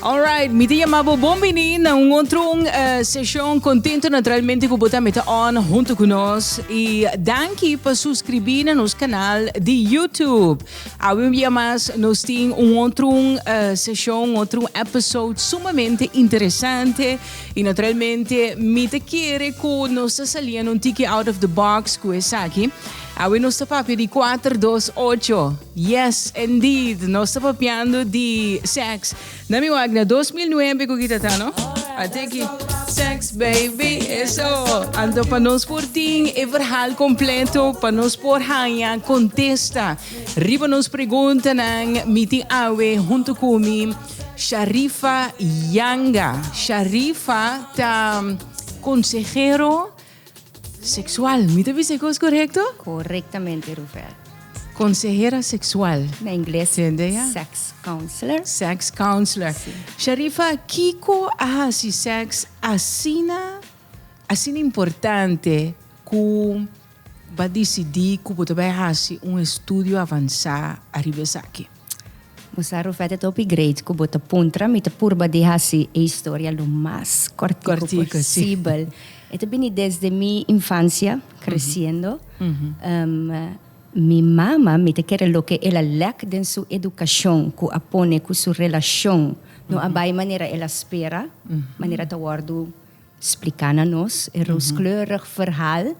Alright, mi te llama bo bon vini na un otro un, uh, eh, sesión. Contento naturalmente que bota meta on junto con nos. Y danki pa suscribir na nos canal de YouTube. Awe un día más nos tin un otro un, uh, eh, sesión, otro episode sumamente interesante. Y naturalmente mi te quiere que nos saliendo un tiki out of the box que es aquí. Awe nos ta papia di kuater dos ocho. Yes indeed nos ta papiando di sex. Na mi wak na dos mil nuebe ku ki ta ta no? A tiki sex baby eso. Anto pa nos por tin e verhal kompleto pa nos por haña kontesta riba nos preguntanan mi tin awe huntu ku mi Sharifa Yanga. Sharifa ta konsehero. Seksual, mi ta bisa e kos korekto? Korektamente, Ruvel. Konsehera seksual. Na ingles, Tende ya? sex counselor. Sex counselor. Si. Sharifa, kiko a hasi sèks asina, asina importante ku bo a disidí ku bo ta bai hasi un estudio avansá ariba esaki? Bo sa Rufete ta hopi great cu bo ta puntra, mi ta purba di haci e historia lo mas cortico posibel. E ta bini desde mi infancia creciendo. Mi mama mi ta kere loke el a lek den su educacion cu a pone cu su relacion no a bay manera el a spera, manera ta wordo. Spliká na nos e rooskleurig verhal.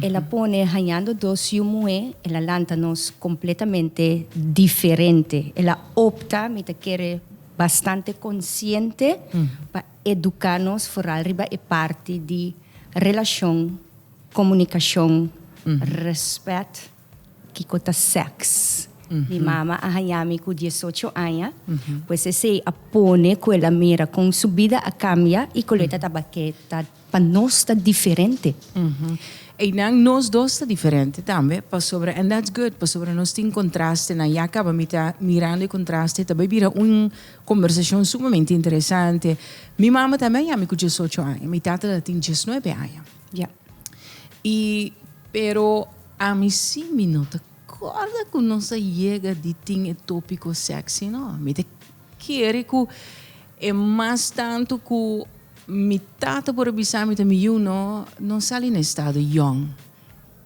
El a pone hañando dos yu muhé, el a lanta nos kompletamente diferente. El a opta, mi ta kere bastante konsiente, pa eduká nos foral riba e parti di relashon, komunikashon, rèspèt. Kiko ta sèks? Mi mama a hañá mi ku diesocho aña, pues esei a pone ku el a mira kon su bida a kambia i kon lo e ta tabak'é ta pa nos ta diferente. Einan nos dos ta diferente tambe pasobra and that's good pasobra nos tin kontraste nan. Ya kaba mi ta mirando e kontraste ta bai bira un kombersashon sumamente interesante. Mi mama tambe a hañá mi ku diesocho aña, mi tata ta tin diesnuebe aña. Ya. Y pero ami si mi no ta corda cu nos a yega di tin e topico sexy no. Mi ta kere cu e mas tanto cu mi tata por a bisa mi ta mi yu no, no sali na estado yong.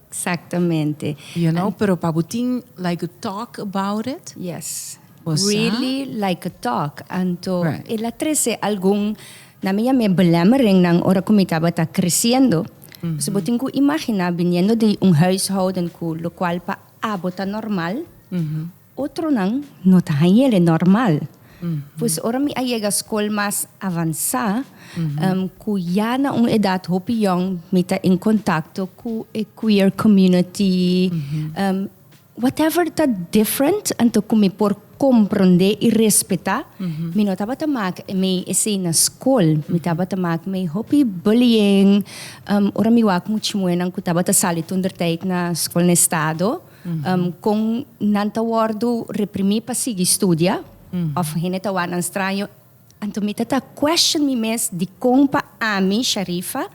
Exactamente. You know, pero pa bo tin like to talk about it. Yes. Bo sa. Really like to talk. Anto right. el a trece algun, nan mi yam'e belemmeringnan ora cu mi tabata creciendo. Mm -hmm. So bo tin cu imagina viniendo de un huishouden cu lo cual pa abo ta normal. Mm -hmm. Otronan no ta hañ'ele normal. Pues ora mi a yega skol mas avansá, ku ya na un edat hopi yòn mi ta en kontakto ku e queer community, whatever ta different, anto ku mi por komprondé i respetá, mi no tabata mak mei esei na skol, mi tabata mak mei hopi bullying, ora mi wak muchimoenan ku tabata sali toenterteit na Skolna Estado. um, kon nan ta wordu reprimí pa sigui studia, of hende ta wak nan straño, anto mi ta ta question mi mes di kon pa ami, Sharifa,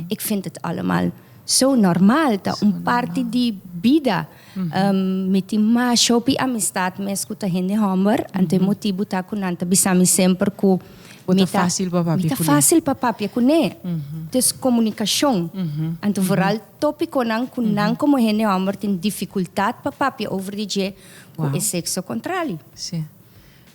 ik vind het allemaal zo normaal, ta un parti di bida. Um, mi tin mas hopi amistad mes ku ta hende homber, anto e motibu ta ku nan ta bisa mi semper ku Bo ta mi fácil pa papia mi ta kuné. fácil pa papia kuné. Dus komunikashon, anto vooral Tópikonan ku nan komo hende hòmber tin difikultat pa papia over di dje ku e sekso kontrali. Sí.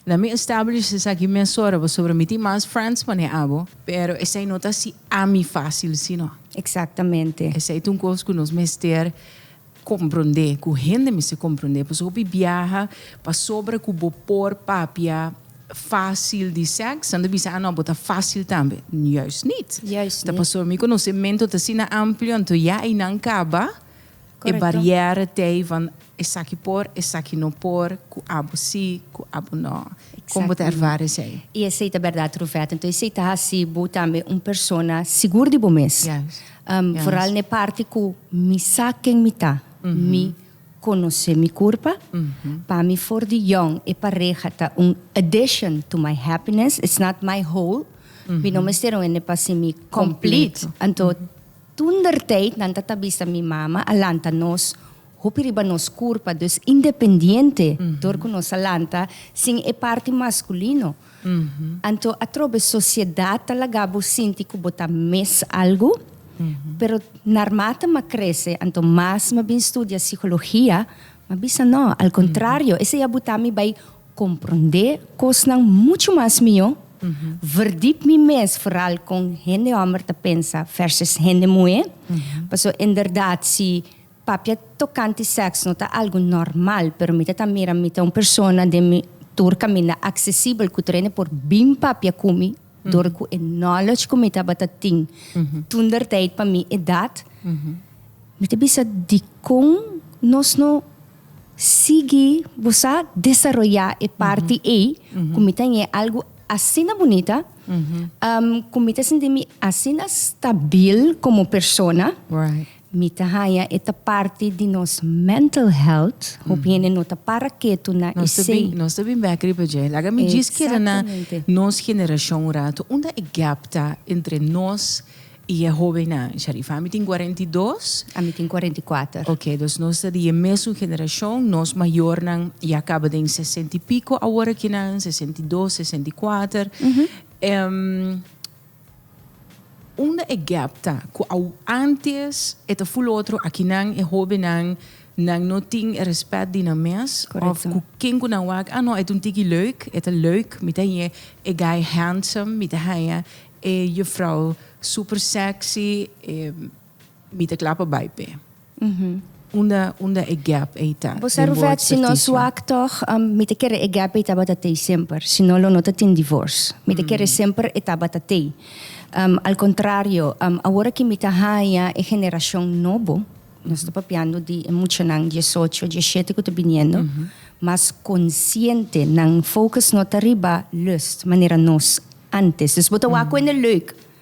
Lamin establish esaki mesora pasobra mi tin mas friends pa ne abo, pero esei no ta si ami fásil si no. Eksaktamente. Esei ta un kos ku nos mester komprondé, ku hende mester komprondé, pasobra hopi biaha pasobra ku bo por papia. Fásil di sèks, nan ta bisa, ah no, bo ta fásil tambe. Juist nit. Juist nit. Ta pasobra mi konosementu ta asina amplio, anto ya einan kaba e barièra t'ei van esaki por, esaki no por, ku abo sí, ku abo no. Kon bo ta ervara esei? I esei ta bèrdat, Rufèt. Anto esei ta hasi bo tambe un persona sigur di bo mes. Juist. Juist. Foral n'e parti ku mi sa ken mi ta. Mi. Conoce mi curpa, Pa mi for di Young e pareha ta un addition to my happiness, it's not my whole, mi no mester un hende pa si mi complete. Anto tundertijd nan ta ta bisa mi mama a lanta nos hopi riba nos curpa, dus independiente, dor cu nos a lanta sin e parti masculino. Anto atrobe sociedad ta laga bo sinti cu bo ta mes algo, pero narma ta ma crece anto mas ma bin studia psicologia ma bisa no, al contrario esey a buta mi bay compronde cosnan mucho mas mijo, verdip mi mes foral con hende homber ta pensa versus hende muhe, paso en berdad si. Papia tokante sèks no ta algu nòrmal, pero mi ta ta mira mi ta un persona den mi tur kaminda aksesibel ku Trene por bin papia ku mi dor ku e knowledge ku mi tabata tin tundertyd pa mi edat. Mi ta bisa dikon nos no sigui, bo sa, desaroyá e parti ei ku mi ta ñe algu asina bunita, ku mi ta sinti mi asina stabil komo persona. Mi ta haña e ta parti di nos mental health, hopi hende no ta para ketu na esei. Nos ta bin bek riba dje. Laga mi djis keda na nos generashon un ratu, unda e gap ta entre nos i e hobennan? Sharifa, mi tin kuarenta i dos. A mi tin kuarenta i kuater. Ok, dus nos ta di e mesun generashon, nos mayornan ya kaba den sesenta i piko awor akinan, sesenta i dos, sesenta i kuater. Unda e gap ta cu aun antes e ta full otro akinan e hobennan nan no tin e respect di nan mes of cu ken cu nan wak ah no e ta un tiki leuk e ta leuk mi ta haya e guy handsome mi ta haya e juffrouw super sexy mi ta cla pa bay p'e. Unda e gap ei ta? Bo sa Ruvet, si no suak tog, mi ta kere e gap ei tabata tei semper, si no lo no ta tin divors. Mi ta kere semper e tabata tei. Al contrario, awor aki mi ta haña e generacion nobo, nos ta papiando di e muchanan diesocho, dieshete cu ta biniendo, mas consciente, nan focus no ta riba lust manera nos antes. Dus bo ta wak cu e na leuk.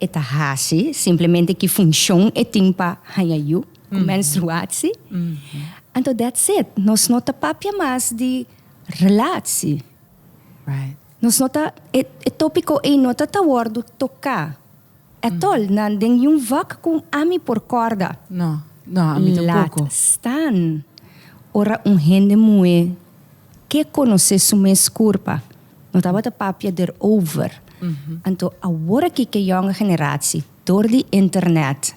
E ta hasi simplemente ki funshon e tin pa haña yu ku menstruatsi. Anto dats it, nos no ta papia mas di relatsi. Nos no ta, e e topiko ei no ta ta wòrdu toká etol na den yu vòk ku ami por kòrda. No, no, ami tampoko. Lat stan ora un hende muhé ke konosé su mes kurpa. No tabata papia derover. Anto aworaki ke yonga generasi, dor di internet,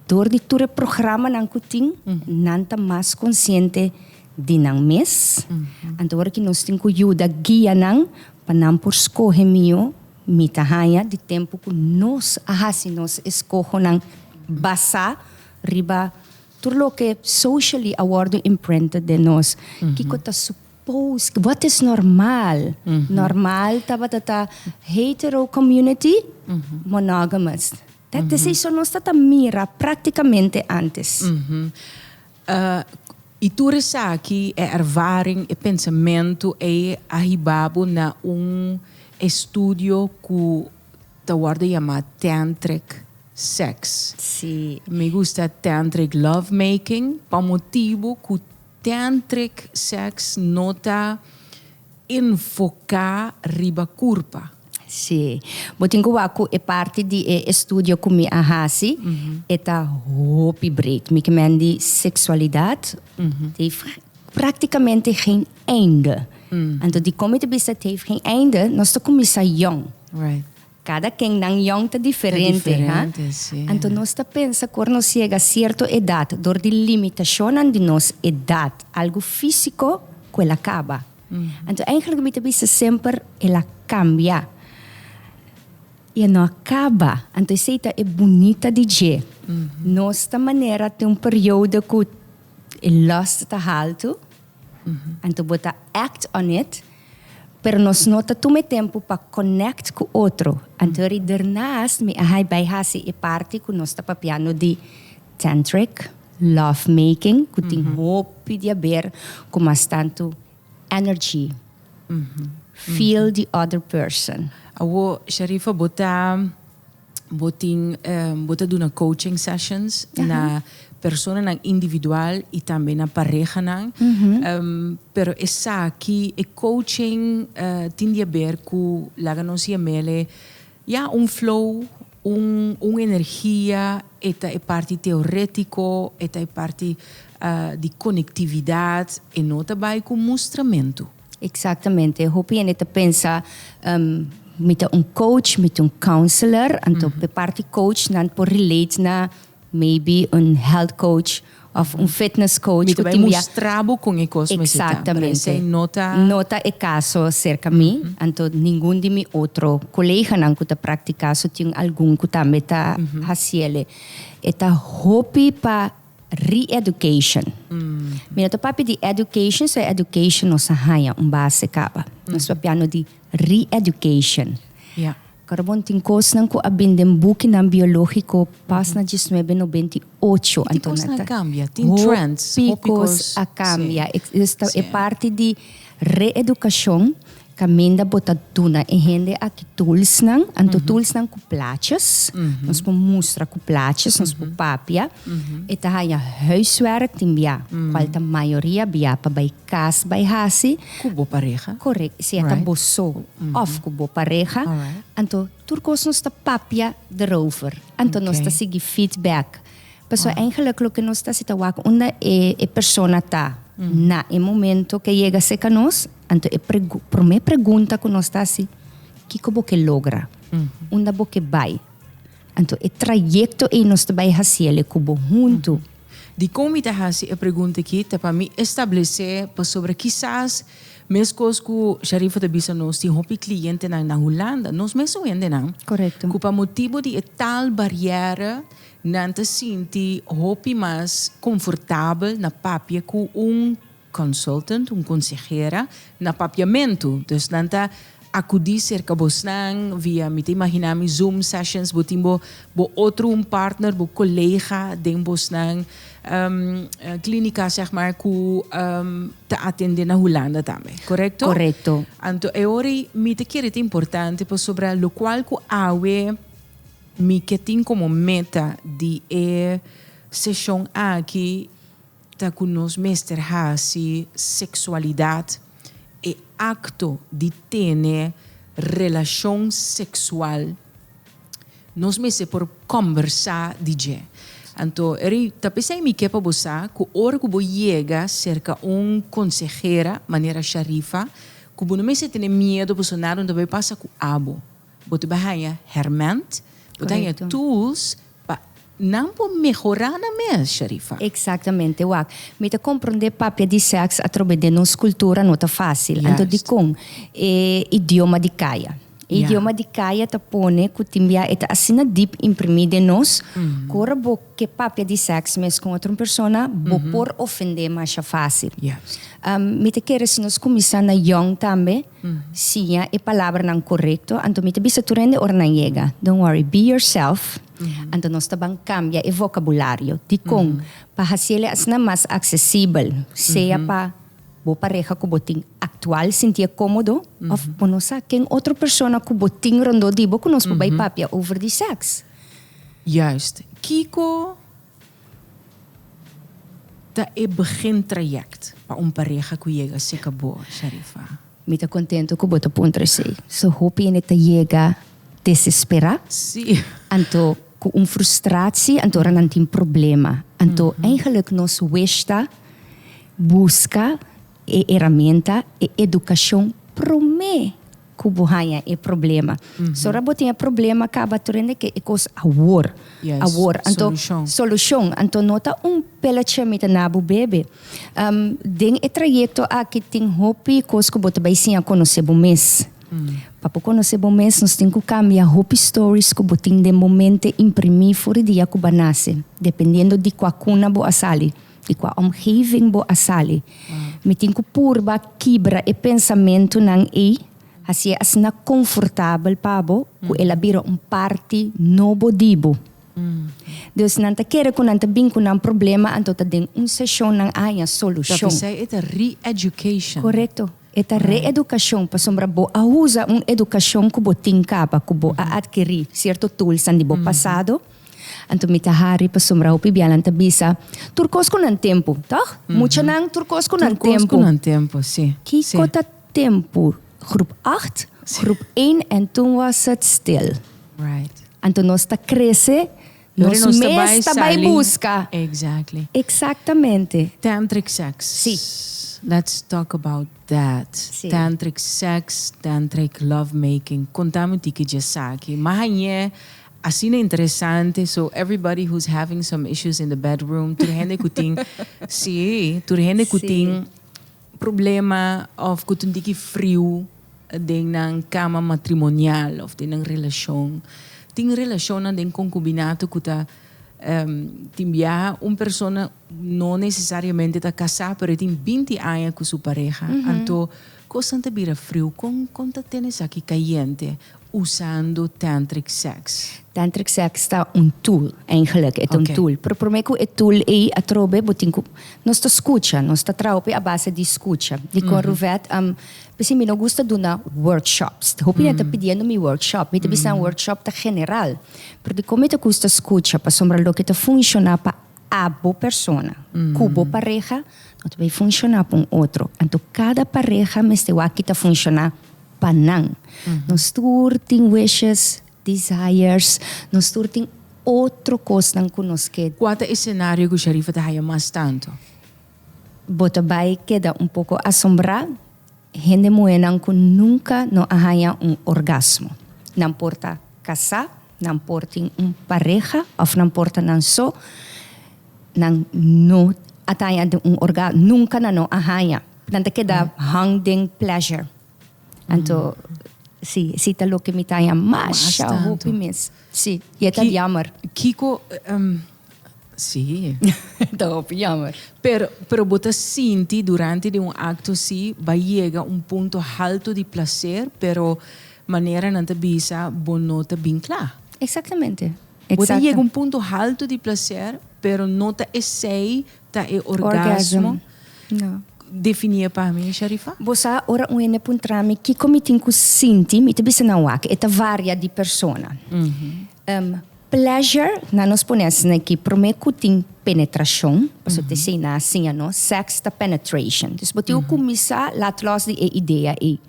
dor di tur e programanan ku tin, nan ta mas konsiente di nan mes. Anto aworaki nos tin ku yuda guia nan pa nan por skohe mihó, mi ta haña di tempu ku nos a hasi nos eskohonan basá riba tur loke socially a wòrdu imprinted den nos. Kiko ta su. Pose, wat is normal? Normal tabata ta hetero community, monogamous. Dat is ei, so nos ta ta mira practicamente antes. I tur esaki, e ervaring, e pensamentu ei a hiba bo na un estudio ku ta wòrdu yama tantric sex. Si. Mi gusta tantric lovemaking pa motibu ku Tantric sex no ta enfoca riba curpa. Sí. Bo tin cu wak cu e parti di e estudio cu mi a haci, e ta hopi breed. Mi kimen di sexualidad, het heeft practicamente geen einde. Anto dicome ta bisa het heeft geen einde, nos ta cuminsa jong. Right. Cada ken nan yong ta diferente, ha? Anto nos ta pensa cu ora nos yega cierto edad dor di limitacionnan di nos edad, algo fisico cu el a caba. Anto eigenlijk mi ta bisa semper el a cambia y e no a caba. Anto esey ta e bunita di dje. Nos ta manera tin un periodo cu e lust ta halto. Anto bo ta act on it, pero nos no ta tuma e tempu pa connect cu otro. Anto ri dernaast mi a hai bay haci e parti cu nos ta papiando di tantric love making cu tin hopi di haber cu mas tanto energy, feel the other person. Awor Sharifa bo ta. Bo tin bo ta duna coaching sessions na personanan individual y tambe na parehanan. Pero esaki, e coaching tin di haber cu laga nos yamele ya un flow, un un energia, e ta e parti teoretico, e ta e parti di conectividad, e no ta bay cu mustramentu. Exactamente. Hopi hende ta pensa mi ta un coach, mi ta un counselor, anto pe parti coach nan por relate na maybe un health coach of un fitness coach. Mi ta bai mustra bo con e cos mester ta. Exactamente. Pero esey no ta. No ta e caso cerca mi, anto ningun di mi otro coleganan cu ta practica su tin algun cu tambe ta haciele. E ta hopi pa. Re-education. Mi no ta papia di education, so e education nos a haña un base caba. Nos papiando di re-education. Ja. Cara bon, tin cosnan cu a bin den bukinan biologico pas na diesnuebe nobenta i ocho. Tin cos na cambia, tin trends. Hopi cos a cambia. E parti di re-educacion Caminda bo ta duna e hende aki toolsnan, anto toolsnan cu plaatjes. Nos por mustra cu plaatjes, nos por papia. E ta haya huiswerk tin bia, cual ta mayoria bia pa bay cas bay haci. Cu bo pareha. Correct, si e ta bo so of cu bo pareha. Anto tur cos nos ta papia derover. Anto nos ta sigui feedback. Pasobra eigenlijk loke nos ta haci ta wak unda e persona ta na e momento ke yega seca nos. Anto e promé pregunta ku nos ta hasi, Kiko bo ke logra? Unda bo ke bai? Anto e trayekto ei nos ta bai hasi el ku bo huntu. Dikon mi ta hasi e pregunta aki? Ta pa mi establesé pasobra kisas meskos ku Sharifah ta bisa nos tin hopi klientenan na Hulanda, nos mes a wendenan ku pa motibu di e tal bariera nan ta sinti hopi mas komfortabel na papia ku un Consultant, un consehera na papiamentu. Dus nan ta acudi cerca bosnan via, mi ta imagina mi, Zoom sessions. Bo tin bo bo otro un partner, bo colega den bosnan clinica zeg maar cu ta atende na Hulanda tambe, correcto? Correcto. Anto e ora ei mi ta kere ta importante pasobra locual cu awe mi ke tin como meta di e seshon aki, Ta cu nos mester haci sexualidad e acto di tene relacion sexual, nos mester por combersa di dje. Anto Eri ta pesey mi ke pa bo sa cu ora cu bo yega cerca un consehera manera Sharifa cu bo no mester tene miedo pasobra nadan no ta bay pasa cu abo. Bo ta bay haya herment, bo ta haya tools Pa nan por mehorá nan mes, Sharifa. Exactamente, wak. Mi ta comprende papia di sex atrobe den nos cultura no ta facil. Anto dicon? E idioma di caya. E idioma di caya ta pone cu tin bia e ta asina diep imprimi den nos cu ora bo ke papia di sex mes con otro un persona bo por ofende masha facil. Mi ta kere si nos cuminsa na young tambe. Siña e palabranan korekto, anto mi ta bisa tur hende ora nan yega, Don't worry, be yourself. Anto nos ta ban kambia e vokabulario. Dikon? Pa hasi el e asina mas aksesibel, sea pa bo pareha ku bo tin aktual sinti e kómodo òf bo no sa ken otro persona ku bo tin rondó di bo ku nos por bai papia over di sèks. Juist. Kiko Ta e begin trayect pa un pareha cu yega cerca bo, Sharifa. Mi ta contento cu bo ta puntra esey. So hopi hende ta yega desespera. Sí. Anto cu un frustratie, anto ora nan tin problema. Anto eigenlijk nos wish ta busca e herramienta, e educacion prome. ku bo haña e problema. So ora bo tin e problema kaba tur hende ke e kos awor, awor. Anto solushon. Anto no ta un pelachi mi ta na bo bebe. Den e trayekto aki tin hopi kos ku bo ta bai siña konosé bo mes. Pa bo konosé bo mes nos tin ku kambia hopi stories ku bo tin den bo mente imprimí for di dia ku bo a nase, dependiendo di kua kuna bo a sali. y cua omgeving bo a sali. Mi tin cu purba kibra e pensamentunan ey, hacié asina confortabel pa bo cu el a bira un parti nobo di bo. Dus nan ta kere cu nan ta bin cu nan problema, anto ta den un sesion nan haña solucion. Ta bisai e ta re-education. Corecto. E ta re-educacion, pasobra bo a usa un educacion cu bo tin caba, cu bo a adkiri cierto toolsnan di bo pasado. Anto mi ta hari pasobra hopi bianan ta bisa, Tur kos ku nan tempu, tòg? Muchanan, tur kos ku nan tempu. Tur kos ku nan tempu, si. Kiko ta tempu? Groep acht, groep één en toen was het stil. Right. Anto nos ta krese, nos mes ta bai buska. Exactly. Eksaktamente. Tantric sex. Si. Let's talk about that. Si. Tantric sex, tantric love making. Konta mi tiki di esaki. Mas añe. Asina interesante so everybody who's having some issues in the bedroom tur hende ku tin si tur hende ku tin problema of ku tin diki friu den nan kama matrimonial of den nan relashon tin relashonnan den konkubinato ku ta tin biaha un persona no nesesariamente ta kasá pero e tin binti aña ku su pareha anto Kosnan ta bira friu kon kon ta tene esaki kayente usando tantric sex? Tantric sex ta un tool, eigenlik e ta un tool, pero prome ku e tool ei atrobe bo tin ku, nos ta skucha, nos ta traha hopi a base di skucha. Dikon Ruvet a bisí mi no gusta duna workshops, hopi hende ta pidiendo mi workshop, mi ta bisa nan workshop ta general, pero dikon mi ta gusta skucha, pasobra loke ta funshoná pa. A bo persona ku bo pareha no ta bay funshoná pa un otro, anto kada pareha mester wak ki ta funshoná pa nan. Nos tur tin wishes, desires, nos tur tin otro kosnan ku nos ke. Kua ta e senario ku Sharifa ta haya mas tantu? Bo ta bay keda un poko asombrá, hende muhénan ku nunka no a haña un orgasmo. Nan por ta kasá. Nan por tin un pareha of nan por ta nan so, nan no a taña den un orga, nunca nan no a haña. Nan ta keda hang den pleasure. Anto, si, si ta loke mi taña mas, Mas sha tanto. hopi mes. Si, i e ta Ki- jammer. Kiko, em, Sí. Ta hopi jammer. Pero, pero bo ta sinti durante di un acto así, bay yega un punto halto di placer, pero manera nan ta bisa, bo no ta bin cla. Exactamente. Bo ta yega un punto halto di placer, pero no ta esey Ta e orgasmo. Definie pa mi Sharifa. Bo sa ora un hende puntra mi kiko mi tin ku sinti mi ta bisa nan wak e ta varia di persona. Pleasure nan nos pone asina aki prome ku tin penetrashon paso ta esei nan a siña nos sex ta penetration. Dus bo tin ku kuminsá lat lòs di e idea ei.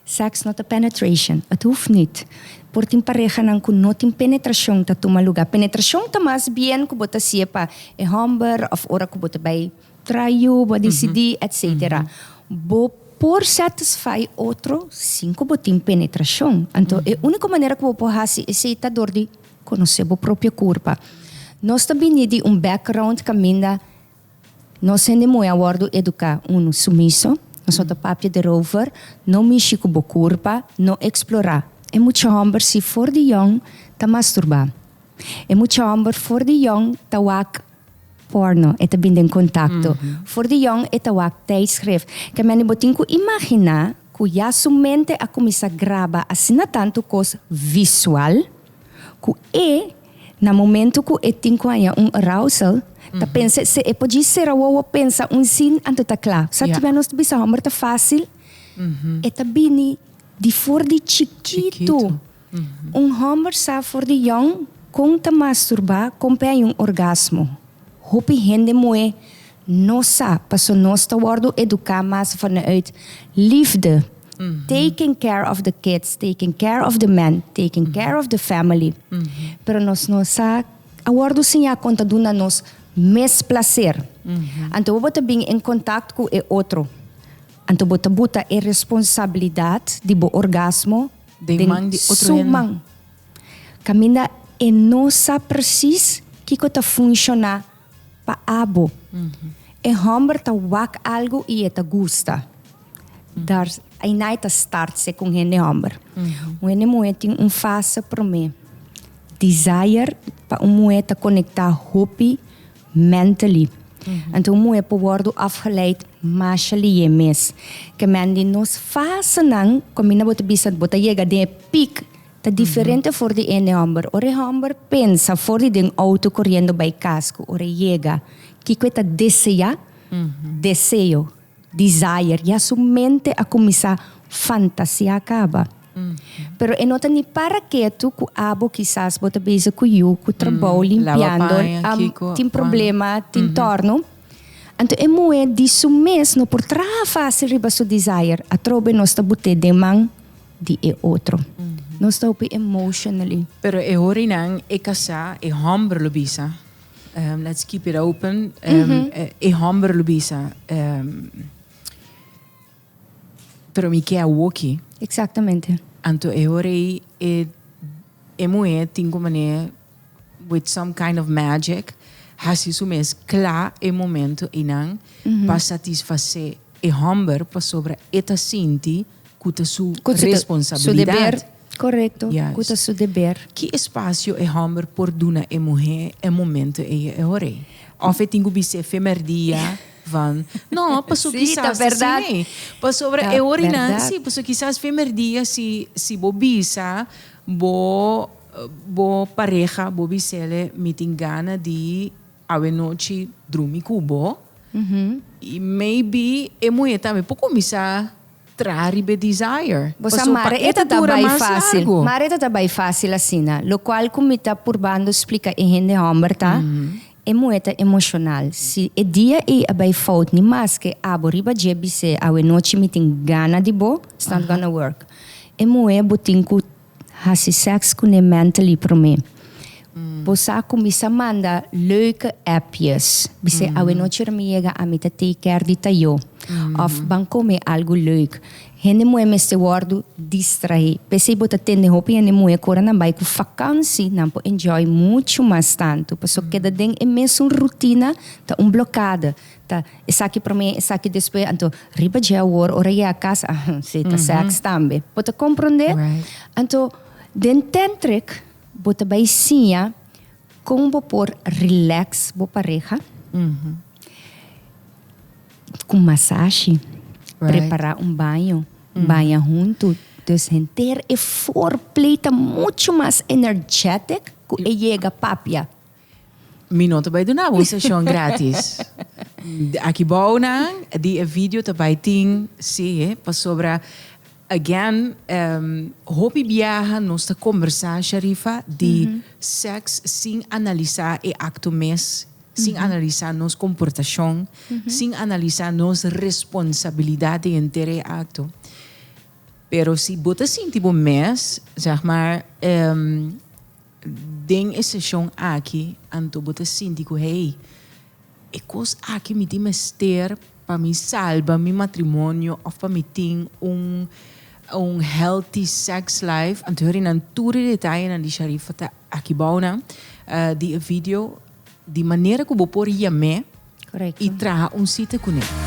Seks no ta penetration. It hoeft niet. Por tin parehanan ku no tin penetrashon ta tuma lugá. Penetrashon ta mas bien ku bo ta hasié pa e hòmber òf ora ku bo ta bai trai yu, bo a disidí, etsetera. Bo por satisfai otro sin ku bo tin penetrashon. Anto e úniko manera ku bo por hasi esei ta dor di konosé bo propio kurpa. Nos ta bini di un background kaminda. Nos hende muhé a wòrdu eduká, unu, sumiso, Nosoto papia derover, no mishi ku bo kurpa, no eksplorá. E mucha hòmber si for di yòn ta masturbá. E mucha hòmber for di yòn ta wak pòrno, e ta bin den kontakto. For di yòn e ta wak tijdskrif. Kamian'é bo tin ku imaginá ku ya su mente a kuminsá graba asina tantu kos visual ku e. Na momento cu e tin cu haña un arousal, ta pensa esey e por djis sera wowo pensa un zin anto ta cla. Sa kiba nos ta bisa homber ta facil? E ta bini di for di chikito. Un homber sa for di yong con ta masturba con p'e haña un orgasmo. Hopi hende moe Nos sa, paso nos ta wordo educa mas vanuit liefde, taking care of the kids, taking care of the man, taking care of the family. Pero nos no sa a wordo siña con ta duna nos mes placer. Anto bobo ta bin en contact cu e otro, anto bo ta buta e responsabilidad di bo orgasmo den su man. Caminda e no sa precies kico ta funciona. Pa abo, e hòmber ta wak algu i e ta gusta. Dar, Einá e ta start sek un hende hòmber. Un hende muhé tin un fase promé. Desire pa un muhé ta konektá hopi mentally. Anto un muhé por wòrdu afgeleid masha lihé mes. Kemen di nos fasenan, kaminda bo ta bisa bo ta yega den e peak, Ta diferente for di ene homber. Ora e homber pensa for di den auto coriendo bay cas cu ora e yega kico e ta desea, deseo, desire, ya su mente a cuminsa fantasia caba. Pero e no ta ni para ketu cu abo kisas bo ta bezig cu yu, cu trabao, limpiando, am, tin problema, tin torno. Anto e muhe di su mes no por traha facil riba su desire. Atrobe nos ta bute den man. di e otro. Nos ta hopi emotionally. Pero e horinan e casá, e homber lo bisa, ehm, let's keep it open, ehm, e homber lo bisa, ehm, pero mi ke awoki. Exactamente. Anto e hora ei e, e muhé tin ku manera with some kind of magic hasi su mes kla e momento einan pa satisfasé e homber pasobra e ta sinti. ku ta su responsabilidat. Korekto, ku ta su deber. Ki espasio e hòmber por duna e muhé e momentu ei e ora ei? Òf e tin ku bisé femerdia van no, paso kisas ta asina ei. Pasobra e ora einan, sí, paso kisas femerdia si si bo bisa bo bo pareha bo bisele mi tin gana di. Awe nochi drumi ku bo. I maybe e muhe tambe por kuminsá traha riba e desire. Bo sa Mare e ta ta bai fásil. Mare e ta ta bai fásil asina. Lokual ku mi ta purbando splika e hende hòmber ta, e muhe ta emoshonal. Si e dia ei a bai fout ni maske abo riba dje bis'é awe nochi mi tin gana di bo, it's not gonna work. E muhe bo tin ku. Hasi sèks ku ne mentally promé. Bo sa ku mi sa manda leuke appjes. Bisé awenochi ora mi yega a mi ta take care di Tayo. Òf ban kome algu leuk. Hende muhé mester wòrdu distrahé. P'esei bo ta tende hopi hende muhé ku ora nan bai ku fakansi nan por enjoy muchu mas tantu. Pasobra keda den e mesun rutina ta un blokada. Ta esaki promé, esaki despues, anto riba dje awor ora yega a casa, ah, sí, ta sèks tambe. Bo ta komprondé? Right. Anto, den tantric bo ta bai siña kon bo por rilèks bo pareha ku masashi, prepará un baño, baña huntu. Dus henter e foreplay ta muchu mas energetic ku e yega papia. Mi no ta bai duna bo un seshon gratis. Aki bou nan di e video ta bai tin si he pasobra again um, hopi biaha nos ta kombersá Sharifa di mm -hmm. seks sin analisá e akto mes, sin mm -hmm. analisá nos komportashon, mm -hmm. sin analisá nos responsabilidat den enter e akto. Pero si bo ta sinti bo mes, zeg maar um, Den e seshon aki anto bo ta sinti ku, Hei, e kos aki mi tin mester pa mi salba mi matrimonio òf pa mi tin un un healthy sex life. Anto hori nan tur e detayenan di Sharifa ta aki bou nan di e video di manera ku bo por yam'é i traha un sita kuné.